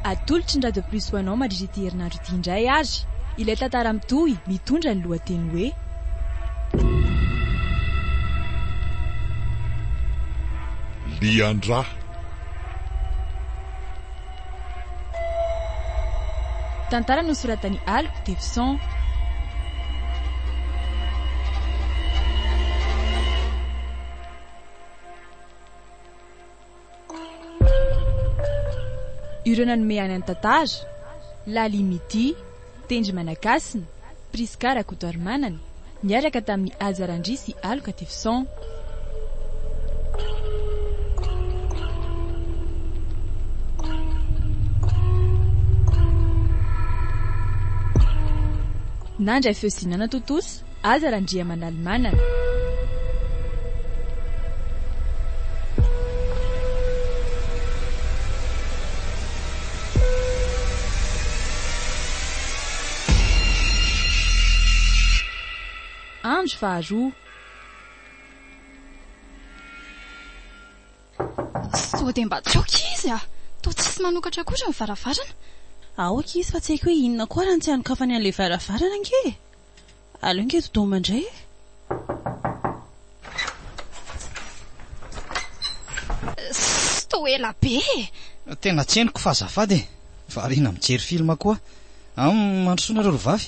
Atolotry ny Radio Plus ho anao mandritra ity herinandro ity indray ary ilay tantara mitohy mitondra ny lohateny hoe Lian-dra. Tantara nosoratan'i Alp Tevison. Ireo nanome aina ny tantara, Laly Mity, Tendry Manakasina, Prisca Rakotoarimanana, niaraka tamin'i Haja Randria sy Aloka Tifson. Nandray feo sy nanatontosa Aza Randriamanalimanana. Andro faharoa. Sao dia mba tsy ok izy a! Toa tsisy manokatra akory ny varavarana. Aoka izy fa tsy haiko hoe inona koa raha ny tsy anokafany an'ilay varavarana ange e! Aleo ange dodoma indray e! Ssss! Toa ela be e! Tena tsy henoko fa azafady e! Variana mijery film koa aho. Hum, mandrosoa nareo ry vavy.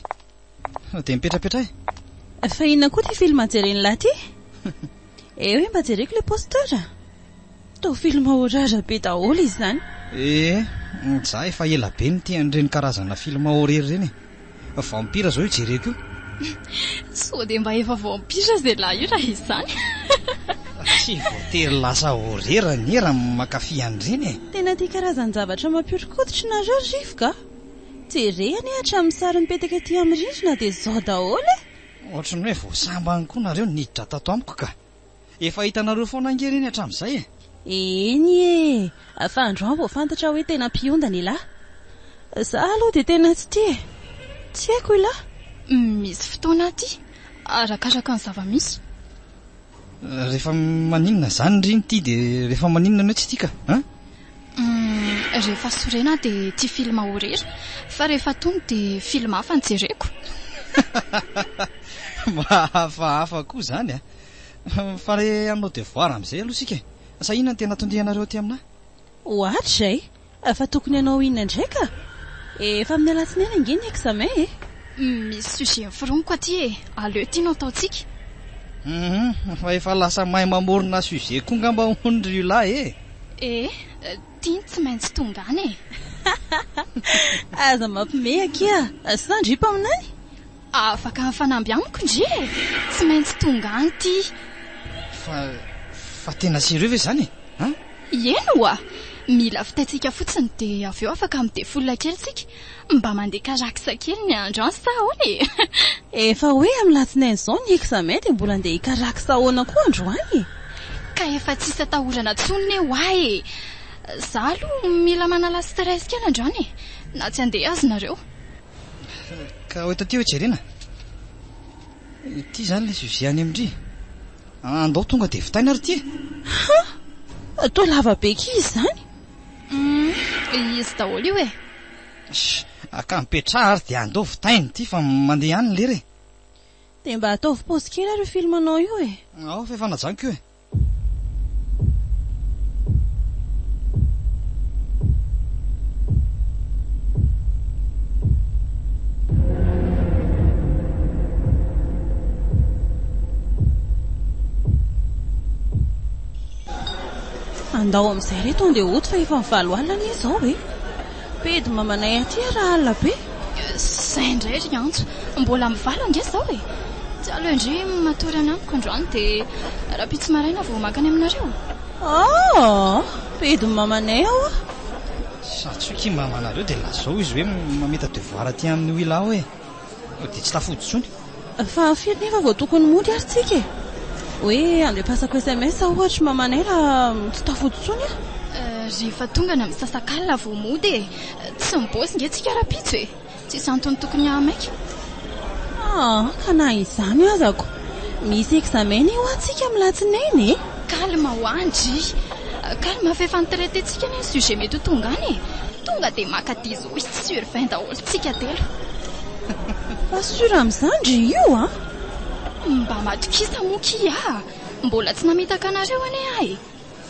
Dia mipetrapetra e! Fa inona koa ity film jeren'lah ity? Eo e mba jereko ilay poster. Toa film horreur be daholo izy izany. Ee, za efa ela be nitia an'ireny karazana film horreur ireny e. Vampira izao io jereko io. Sao dia mba efa vampira izay lahy io raha izany. Tsy voatery lasa horreur anie raha mankafy an'ireny e. Tena tia karazan-javatra mampihoron-koditra nareo ry rivoka a! Jere anie hatramin'ny sary mipetaka ety amin'ny rindrina dia zao daholo e! Ohatran'ny hoe vao sambany koa nareo niditra tato amiko ka! Efa hitanareo foana ange ireny hatramin'izay e! Eny e! Fa androany vao fantatra hoe tena mpiondana ialahy. Za aloha dia tena tsy tia e! Tsy haiko ialahy. Misy fotoana aty, arakaraka ny zava-misy. Rehefa maninona izany ry nty dia rehefa maninona ny hoe tsy tia ka an! Humm rehefa sorena dia tia film ho rery fa rehefa tony dia film hafa no jereko. Mahafahafa koa izany a! Fa re hanao devoir amin'izay aloha isika e! Sa inona no tena tondianareo aty aminà? Ohatra e! Fa tokony hanao inona indray ka? Efa amin'ny alatsinainy ange ny examen e! Misy sujet niforoniko aty e! Aleo ity no ataontsika. Humm fa efa lasa mahay mamorona sujet koa ngamba hono ry Ula e! Eh! Ty ny tsy maintsy tonga any e! Aza mampimehy akia! Sa ndry mpaminany? Afaka mifanamby amiko ndry e! Tsy maintsy tonga any ty! Fa, fa tena sérieux ve izany e? An? Ieny oa! Mila vitaintsika fotsiny dia avy eo afaka midefola kely tsika. Mba mandeha karaksa kely ny andro an sa ahoana e? Efa hoe amin'ny latsinainy izao ny examen dia mbola andeha hikaraksa ahoana koa androany e? Ka efa tsisy atahorana tsony ne hoa e! Za aloha mila manala stress kely androany e! Na tsy andeha aza nareo. Ka ho eto aty hoe jerena? Ity izany ilay sujet any amin-dry. Andao tonga dia vitaina ary ity e! Ha! Toa lava be akia izy izany. Humm izy daholo io e. Shh ka mipetraha ary dia andao vitaina ity fa mandeha ihany ny lera e. Dia mba ataovy pause kely ary io film anao io e. Ao fa efa najanoko io e. Andao amin'izay re to andeha hody fa efa valo alina anie izao e! Pedy mamanay aty ary alina be. Izay indray ry Antso, mbola amin'ny valo ange izao e! Tsy aleo indry matory any amiko androany dia rahampitso maraina vao mankany aminareo? Aa! Pedy mamanay aho a! Sa tsy hoe kimbambanareo dia lazao izy hoe mamita devoir aty aminy ho ila ao e! Dia tsy tafody intsony. Fa firy nefa vao tokony mody ary tsika e? Hoe andefasako sms ohatra mamanay raha tsy tafody intsony aho. Rehefa tonga ny misasakalina vao mody e! Tsy mibaosy nge tsika rahampitso e! Tsisy antony tokony hahamaika. Ah, ka na izany azako. Misy examen io hoa tsika amin'ny latsinainy e! Calme hoa ndry! Calme fa efa ni-traiter tsika anie ny sujet mety ho tonga any e! Tonga dia maka dix. Oui sur vingt daholo tsika telo. Pas sur amin'izany ry io a! Mba matokisa moa kia a! Mbola tsy namitaka anareo anie aho e!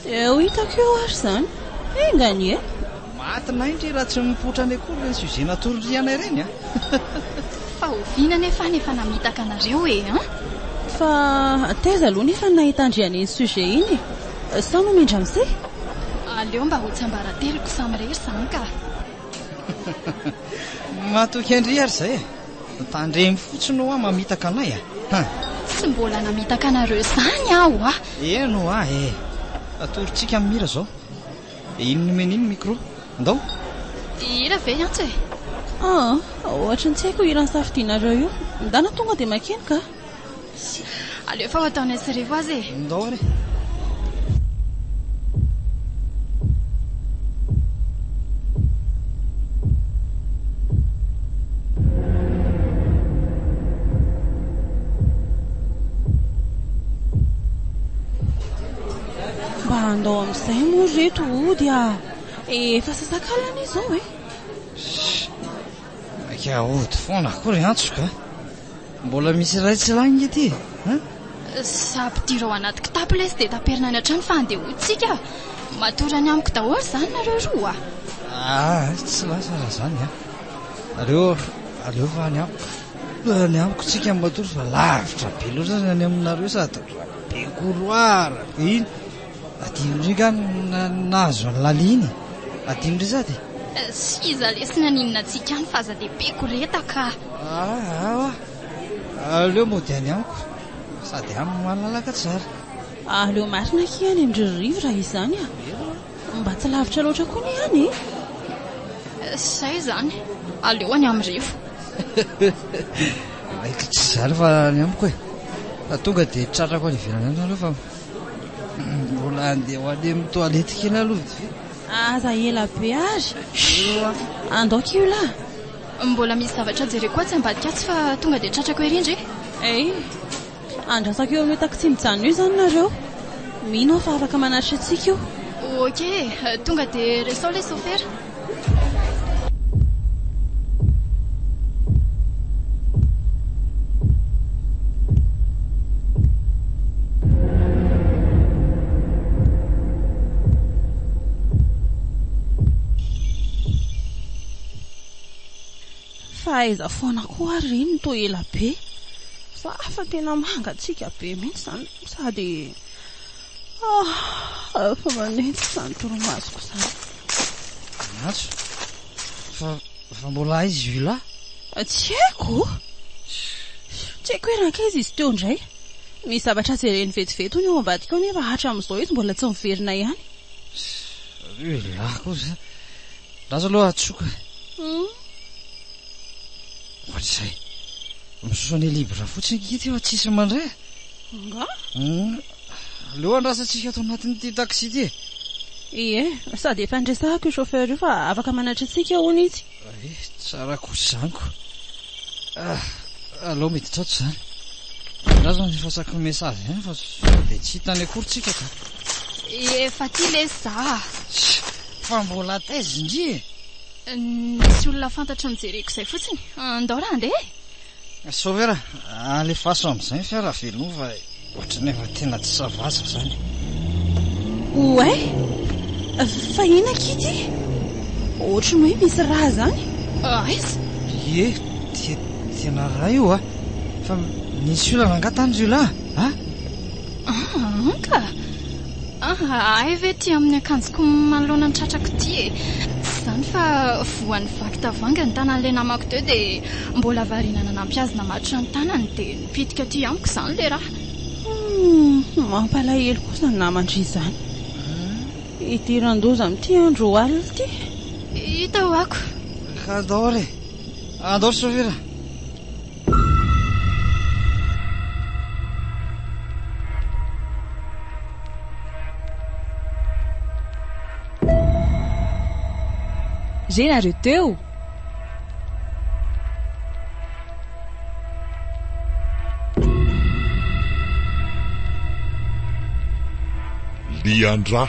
Dia ho hitako eo ary izany. Enga anie! Maty nain ry raha tsy mipoitra any akory ireny sujet natoririanay ireny a! Fa oviana anie fa ny efa namitaka anareo e an! Fa taiza aloha ny efa nahita an-dry an'iny sujet iny e! Sao nomendra misehy? Aleo mba ho tsiambarateloko samirery izany ka! Matoky an-dry ary izay e! Tandremo fotsiny hoa mamitaka anay a! Tsy mbola namitaka anareo izany aho hoa! Eny hoa e! Atorontsika amin'ny hira izao. Iny nomena iny micro. Ndao! Hira ve hiantso e? Aa! Ohatran'ny tsy haiko io hira nisafidianareo io. Ndana tonga dia makeny ka! Aleo efa ho ataonay sy Rivo aza e. Ndao ary. andao amin'izay moa reto ody a eh, efa sasakalana izao e eh. maika ody foana akory antsoka Mbola misy iray tsy lany nge ty a! Za mpidira ao anaty kitapo lesy dia taperina any an-trano fa andehoantsika. Matory any amiko daholo izany nareo roa a! Aa, tsy lasa raha izany a! Aleo, aleo fa any amiko. Any amiko tsika matory fa lavitra be loatra ny any aminareo sady be couloir, be iny. Adino ndry nga ny nahazo an'i Laly iny e! Adino ndry sady e! S'iza lesy ny aninona antsika any fa aza dia be koreta ka! Aa awa! Aleo mody any amiko sady any malalaka tsara! Aleo marina akia any amin-dry Rivo raha izany a! Mba tsy lavitra loatra koa ny any e! Izay izany! Aleo any amin'i Rivo! Maikitra izany fa any amiko e! Fa tonga dia tratrako any ivelany any nareo fa. Mbola handeha ho any amin'ny toilette kely aloha vitsivitsy. Aza ela be ary. Andao kiola. Mbola misy zavatra jereko atsy ambadika atsy fa tonga dia tratrako ery ndry. Hey, andrasako eo amin'io taxi mijanona io izany nareo. Mino aho fa afaka manatrika antsika io. Ok, tonga dia resao ilay sôfera. Fa aiza foana koa ary ry ny toa ela be? Za fa tena mangatsiaka be mihitsy izany sady. Ah, efa manenjika izany torimasoko izany. Maso, fa, fa mbola aiza io lahy? Ah, tsy haiko. Tsy haiko hoe rankaiza izy teo indray. Misy zavatra jereny vetivety hono eo ambadika ao nefa hatramin'izao izy mbola tsy miverina ihany. Io lahy kosa. Lasa aloha atsoka. Hmm. Ohatr'izay. Misosa ny libra fotsiny kity fa tsisy mandray. Angaha? Aleo andrasantsika ato anatin'ity taxi ity e. Ie, sady efa niresahako io chauffeur io fa afaka manatry antsika hono izy. Ie, tsara kosa izany ko. Ah, aleo miditra ato izany. Andraso ny efa saky message ihany fa sao dia tsy hitany akory tsika ka. Efa aty lesy za. Fa mbola taiza indry e? Nisy olona fantatro nijereko izay fotsiny. Andao raha handeha e. Sauveur a, alefaso amin'izay ny fiara avy aloha fa ohatran'ny efa tena tsy ça va za zany. Ouais, fa inona akia ity? Ohatran'ny hoe misy rà zany. Aiza? Ie, dia tena rà io a. Fa nisy olana angaha tany jiolahy a? Ah, anka, Ah, ahay ve ity amin'ny akanjoko manoloana ny tratrako ity e! Tsy izany fa voan'ny vaky tavoahangy ny tanan'ilay namako teo dia mbola variana nanampy azy namatotra ny tanany dia nipitika aty amiko izany ilay rà. Humm, mampalahelo kosa ny naman-dry izany. Idiran-doza amin'ity andro alina ity. Hita ho'ako. Andao re, andao sofira. Re nareo teo? Lian-dra.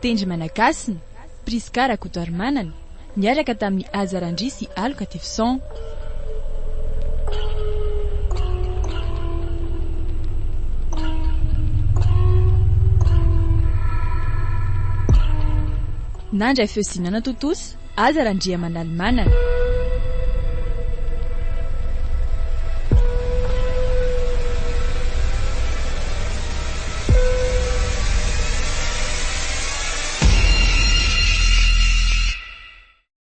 Tendry Managasina, Prisca Rakotoarimanana, niaraka tamin'i Aza Randria sy Aloka Tifson. Nandray feo sy nanatontosa Aza Randriamanalimanana.